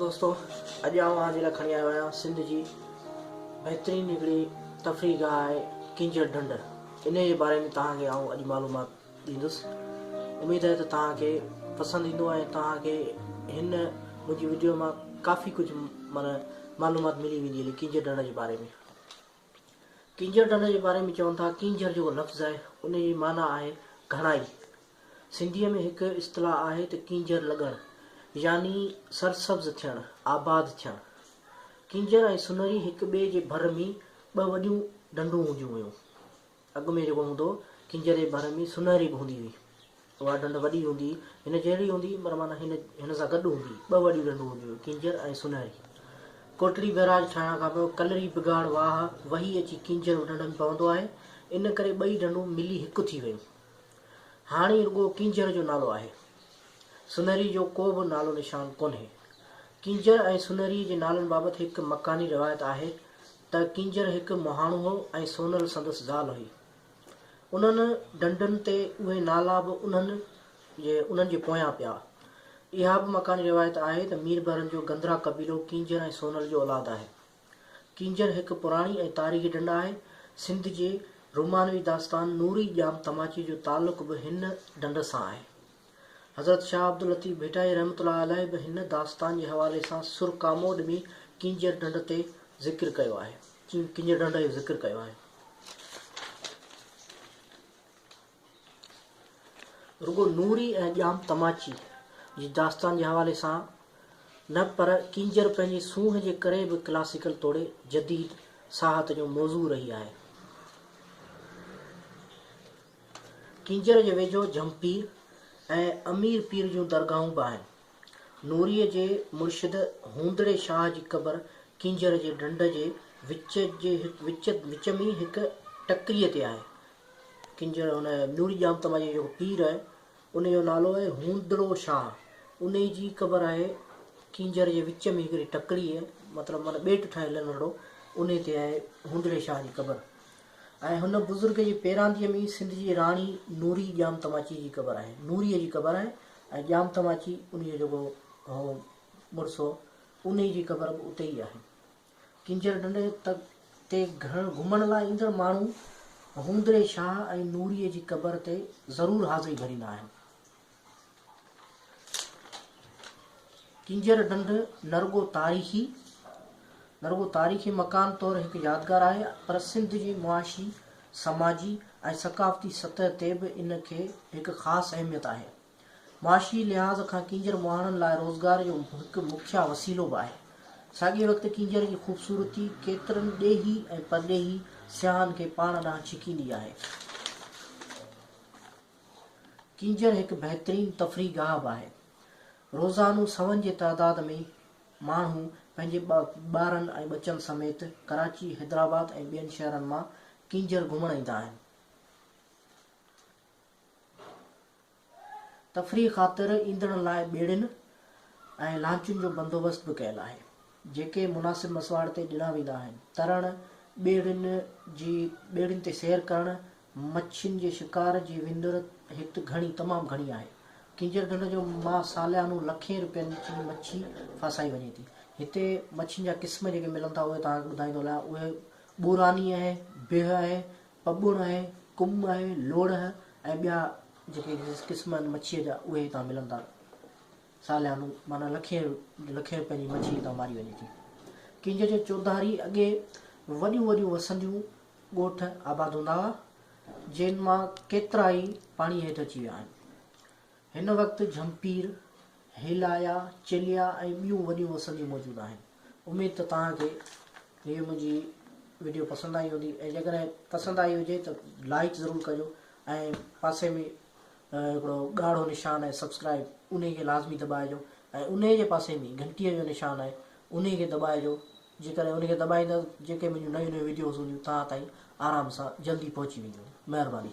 دوستو اڄ آئون اوهان جي لاء کڻي آيو آهيان سنڌ جي بهترين هڪڙي تفريح گاهه آهي ڪينجهر ڍنڍ انهي جي باري ۾ توهان کي آئون اڄ معلومات ڏيندس اميد آهي ته توهان کي پسند ايندو ۽ توهان کي هن منهنجي وڊيو مان ڪافي ڪجهه معنيٰ معلومات ملي ويندي هلي ڪينجهر ڍنڍ جي باري ۾ ڪينجهر ڍنڍ جي باري ۾ چون ٿا، ڪينجهر جيڪو لفظ آهي، ان جي معنيٰ آهي گهڻائي. سنڌيء ۾ هڪ اصطلاح آهي ته ڪينجهر لڳڻ يعني سرسبز ٿيڻ، آباد ٿيڻ. ڪينجهر ۽ سنري هڪ ٻئي جي ڀر ۾ ٻه وڏيون ڍنڍون هونديون هيون. اڳ ۾ جيڪو هوندو هو، ڪنجري ڀر ۾ سونهري به هوندي هئي. اها ڍنڍ وڏي هوندي هئي، هن جهڙي هوندي هئي پر معنيٰ هن هن سان گڏ هوندي هئي. ٻه وڏيون ڍنڍون هونديون هيون، ڪنجر ۽ سونهري. ڪوٽڙي بئراج ٺاهڻ کان پوء ڪلري بگاڙ واهه وهي اچي ڪنجر ڍنڍ ۾ پوندو آهي، ان ڪري ٻئي ڍنڍون ملي هڪ ٿي ويون. هاڻي رڳو ڪنجر جو نالو آهي. سونهري جو ڪو به نالو نشان ڪونهي. ڪنجر ۽ سونهري جي نالن بابت هڪ مڪاني روايت آهي ته ڪينجهر هڪ مهاڻو هو ۽ سونل سندس زال هئي. انهن ڍنڍن تي اهي نالا به انهن جي انهن جي پويان پيا. اها به مڪاني روايت آهي ته ميربحرن جو گندرا قبيلو ڪينجهر ۽ سونل جو اولاد آهي. ڪينجهر هڪ پراڻي ۽ تاريخي ڍنڍ آهي. سنڌ جي رومانوي داستان نوري ڄام تماچي جو تعلق به هن ڍنڍ سان آهي. حضرت شاهه عبداللطيف ڀٽائي رحمة الله عليه به هن داستان جي حوالي سان سر ڪاموڏ ۾ ڪينجهر ڍنڍ تي ذڪر ڪيو آهي. ڪينجهر ڍنڍ جو ذڪر ڪيو آهي. رڳو نوري ۽ ڄام تماچي جي داستان جي حوالي سان نه پر ڪينجهر پنهنجي سونهن جي ڪري به ڪلاسيڪل توڙي جديد ساهت جو موضوع رهي آهي. ڪينجهر جي ويجهو جهمپير ۽ امير پير جون درگاهون به آهن. نوريء جي مرشد هوندڙي شاهه جي قبر ڪينجهر جي ڍنڍ جي وچ ۾ هڪ ٽڪريء تي آهي. ڪينجهر هن نوري ڄامتما جو جيڪو پير آهي، ان جو نالو آهي هوندڙو شاهه. انهيء جي قبر آهي ڪينجهر جي وچ ۾ هڪڙي ٽڪريء، مطلب معنيٰ ٻيٽ ٺاهيل ننڍڙو، انهيء تي آهي هوندڙي شاهه جي قبر. ۽ هن بزرگ جي پيرانديء ۾ ئي سنڌ جي راڻي نوري ڄام تماچيء جي قبر آهي. نوريء جي قبر آهي ۽ ڄام تماچي انهيء جو جيڪو هو مڙس هو، انهيء جي قبر به اتي ئي آهي. ڪينجهر ڍنڍ تي گهمڻ لاء ايندڙ ماڻهو هوندري شاهه ۽ نوريء جي قبر تي ضرور حاضري ڀريندا آهن. ڪينجهر ڍنڍ نه رڳو تاريخي نه رڳو تاريخي مڪان طور هڪ يادگار آهي پر سنڌ جي معاشي، سماجي ۽ ثقافتي سطح تي به ان کي هڪ خاص اهميت آهي. معاشي لحاظ کان ڪينجهر مهاڻن لاء روزگار جو هڪ مکيه وسيلو به آهي. ساڳئي وقت ڪينجهر جي خوبصورتي ڪيترن ڏيهي ۽ پرڏيهي سياحن کي پاڻ ڏانهن ڇڪيندي آهي. ڪينجهر هڪ بهترين تفريح گاهه به آهي. روزانو سون جي تعداد ۾ ماڻهو پنهنجي ٻارن ۽ ٻچن سميت ڪراچي، حيدرآباد ۽ ٻين شهرن مان ڪينجهر گهمڻ ايندا آهن. تفريح خاطر ايندڙن لاء ٻيڙين ۽ لانچن جو بندوبست به ڪيل آهي، جيڪي مناسب مسواڙ تي ڏنا ويندا آهن. ترڻ، ٻيڙين جي ٻيڙين تي سير ڪرڻ، مڇين جي شڪار جي وندر هت گهڻي تمام گهڻي آهي. ڪينجهر ڍنڍ جو مان ساليانو لکين رپين جي مڇي ڦاسائي وڃي ٿي. هتي مڇين جا قسم جيڪي ملن ٿا اهي توهان کي ٻڌائيندو هلان اهي ٻوراني آهي، بيهه آهي، پٻڻ آهي، ڪم آهي، لوڙهه ۽ ٻيا جيڪي قسم آهن مڇيء جا اهي هتان ملن ٿا ساليانو معنيٰ لکين لکين رپين جي مڇي هتان ماري وڃي ٿي. ڪينجهر جي چوڌاري اڳي وڏيون وڏيون وسنديون ڳوٺ آباد هوندا هئا، جن مان ڪيترا ئي پاڻي هيٺ اچي ويا آهن. هن وقت جهمپير، هيلايا، چيليا ۽ ٻيون وڏيون وسنديون موجود آهن. اميد ته توهان کي هيء منهنجي وڊيو پسند آئي هوندي ۽ جيڪڏهن پسند آئي هجي ته لائيڪ ضرور ڪجو ۽ پاسي ۾ هڪڙو ڳاڙهو نشان آهي سبسڪرائيب انهي کي لازمي دٻائجو ۽ انهي جي پاسي ۾ گهنٽيء جو نشان آهي انهي کي دٻائجو جيڪڏهن ان کي دٻائيندا ته جيڪي منهنجون نيون نيون وڊيوز هونديون توهان تائين آرام سان جلدي پهچي وينديون مهرباني.